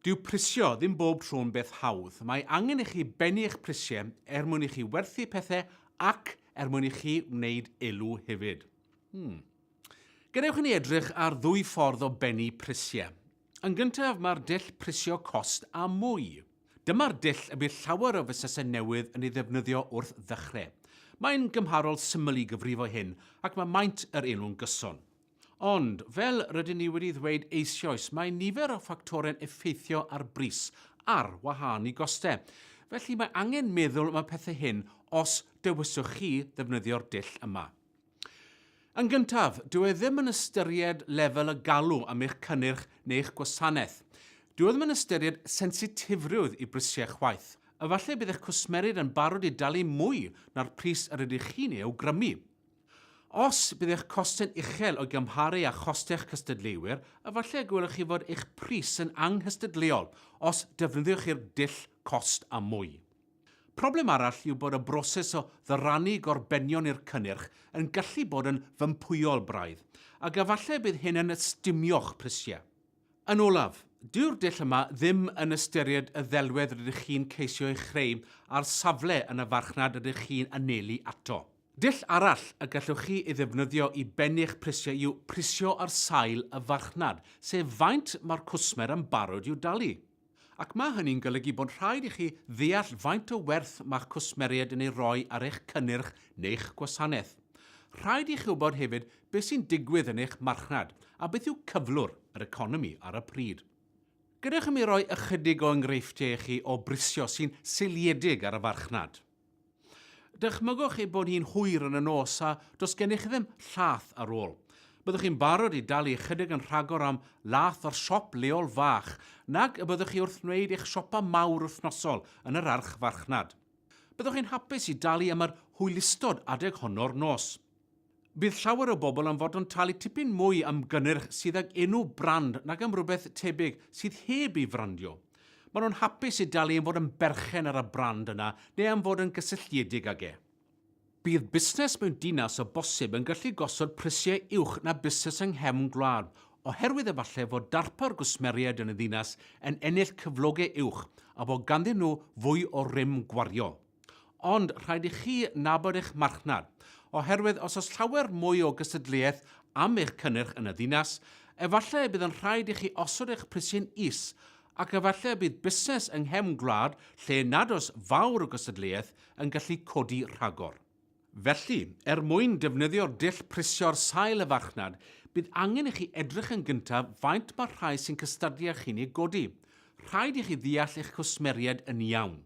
Dyw prisio ddim bob tro'n beth hawdd. Mae angen i chi bennu eich prisiau er mwyn i chi werthu pethau ac er mwyn i chi wneud elw hefyd. Hmm. Gadewch i ni edrych ar ddwy ffordd o bennu prisiau. Yn gyntaf, mae'r dull prisio cost a mwy. Dyma'r dull y bydd llawer o fusnesau newydd yn ei ddefnyddio wrth ddechrau. Mae'n gymharol syml i gyfrifo hyn ac mae maint yr elw'n gyson. Ond, fel rydyn ni wedi ddweud eisioes, mae nifer o ffactorau'n effeithio ar bris, ar wahân i gostau. Felly, mae angen meddwl am y pethau hyn os dewiswch chi ddefnyddio'r dull yma. Yn gyntaf, dyw e ddim yn ystyried lefel y galw am eich cynnyrch neu'ch gwasanaeth. Dyw e ddim yn ystyried sensitifrwydd i brisiau chwaith. Efallai bydd eich cwsmerid yn barod i dalu mwy na'r pris yr ydych chi'n ei awgrymu. Os bydd eich costau'n uchel o'i gymharu â chostau'ch cystadleuwyr, efallai y gwelwch chi fod eich pris yn anghystadleuol os defnyddiwch chi'r dull 'cost a mwy'. Problem arall yw bod y broses o ddyrannu gorbenion i'r cynnyrch yn gallu bod yn fympwyol braidd, ac efallai y bydd hyn yn ystumio'ch prisiau. Yn olaf, dyw'r dull yma ddim yn ystyried y ddelwedd rydych chi'n ceisio ei chreu a'r safle yn y farchnad rydych chi'n anelu ato. Dull arall y gallwch chi ei ddefnyddio i bennu'ch prisiau yw prisio ar sail y farchnad, sef faint mae'r cwsmer yn barod i'w dalu. Ac mae hynny'n golygu bod rhaid i chi ddeall faint o werth mae'ch cwsmeriaid yn ei roi ar eich cynnyrch neu'ch gwasanaeth. Rhaid i chi wybod hefyd beth sy'n digwydd yn eich marchnad a beth yw cyflwr yr economi ar y pryd. Gadewch i mi roi ychydig o enghreifftiau i chi o brisio sy'n seiliedig ar y farchnad. Dychmygwch ei bod hi'n hwyr yn y nos a does gennych ddim llath ar ôl. Byddwch chi'n barod i dalu ychydig yn rhagor am lath o'r siop leol fach nag y byddwch chi wrth wneud eich siopa mawr wythnosol yn yr archfarchnad. Byddwch chi'n hapus i dalu am yr hwylustod adeg honno'r nos. Bydd llawer o bobl am fod yn talu tipyn mwy am gynnyrch sydd ag enw brand nag am rywbeth tebyg sydd heb ei frandio. Maen nhw'n hapus i dalu am fod yn berchen ar y brand yna neu am fod yn gysylltiedig ag e. Bydd busnes mewn dinas o bosib yn gallu gosod prisiau uwch na busnes yng nghefn gwlad, oherwydd efallai fod darpar gwsmeriaid yn y ddinas yn ennill cyflogau uwch a bod ganddyn nhw fwy o rym gwariol. Ond rhaid i chi nabod eich marchnad, oherwydd os oes llawer mwy o gystadleuaeth am eich cynnyrch yn y ddinas, efallai y bydd yn rhaid i chi osod eich prisiau'n is, ac efallai y bydd busnes yng nghefn gwlad lle nad oes fawr o gystadleuaeth yn gallu codi rhagor. Felly, er mwyn defnyddio'r dull prisio'r sail y farchnad, bydd angen i chi edrych yn gyntaf faint mae'r rhai sy'n cystadlu â chi'n ei godi. Rhaid i chi ddeall eich cwsmeriaid yn iawn.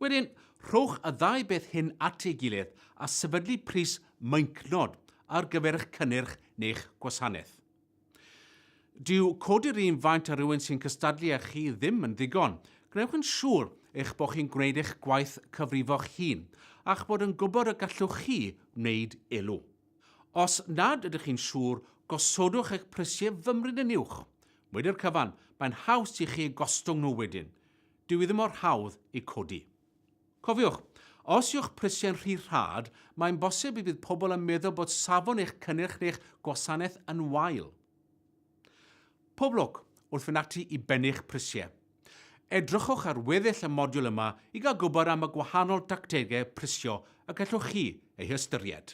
Wedyn, rhowch y ddau beth hyn at ei gilydd a sefydlu pris meincnod ar gyfer eich cynnyrch neu'ch gwasanaeth. Dyw codi'r un faint ar rywun sy'n cystadlu â chi ddim yn ddigon. Gwnewch yn siŵr eich bod chi'n gwneud eich gwaith cyfrifo'ch hun a'ch bod yn gwybod y gallwch chi wneud elw. Os nad ydych chi'n siŵr, gosodwch eich prisiau fymryn yn uwch. Wedi'r cyfan, mae'n haws i chi gostwng nhw wedyn. Dyw hi ddim mor hawdd ei codi. Cofiwch, os yw'ch prisiau'n rhy rhad, mae'n bosib y bydd pobl yn meddwl bod safon eich cynnyrch neu'ch gwasanaeth yn wael. Pob lwc wrth fynd ati i bennu'ch prisiau. Edrychwch ar weddill y modiwl yma i gael gwybod am y gwahanol dactegau prisio y gallwch chi eu hystyried.